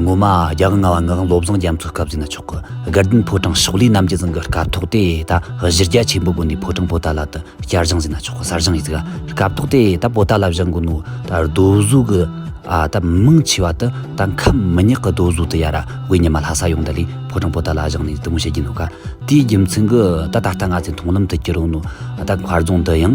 ངོ་མ་རྒྱ་གར་རྔ་བ་ངག་བློ་བཟང་རྒྱ་མཚོའི་སྐབས་ཟིན་ན་ཆོག་གི་དགའ་ལྡན་ཕོ་བྲང་ཕྱོགས་ལས་རྣམ་རྒྱལ་ཟིན་གི་སྐབས་ཐོག་དེ་ད་གཞི་རྒྱ་ཆེན་པོ་དགོན་དེའི་ཕོ་བྲང་པོ་ཏཱ་ལ་དུ་བསྐྱར་བཞེངས་ཟིན་ན་ཆོག་གི་སར་བཞེངས་ཡིན་གི་སྐབས་ཐོག་དེ་ད་པོ་ཏཱ་ལ་བཞེངས་དགོས་ནོ་ད་རྡོ་གཟུགས་གི་ཨ་ད་མང་ཆེ་བ་དུ་ད་ཁམས་མི་ཉག་གི་རྡོ་གཟུགས་དུ་ཡ་ར་དབུས་ཉི་མ་ལྷ་ས་ཡོང་དུ་ལས་ཕོ་བྲང་པོ་ཏཱ་ལ་བཞེངས་ནས་དུ་མོ་བྱེད་ཀྱིན་ནོ་ག་དེའི་རྒྱུ་མཚན་གི་ད་ད་ལྟ་ང་ཚོའི་མཐོང་ལམ་དུ་གྱི་རུང་ནོ་ད་མཁར་རྫོང་འདི་ཡང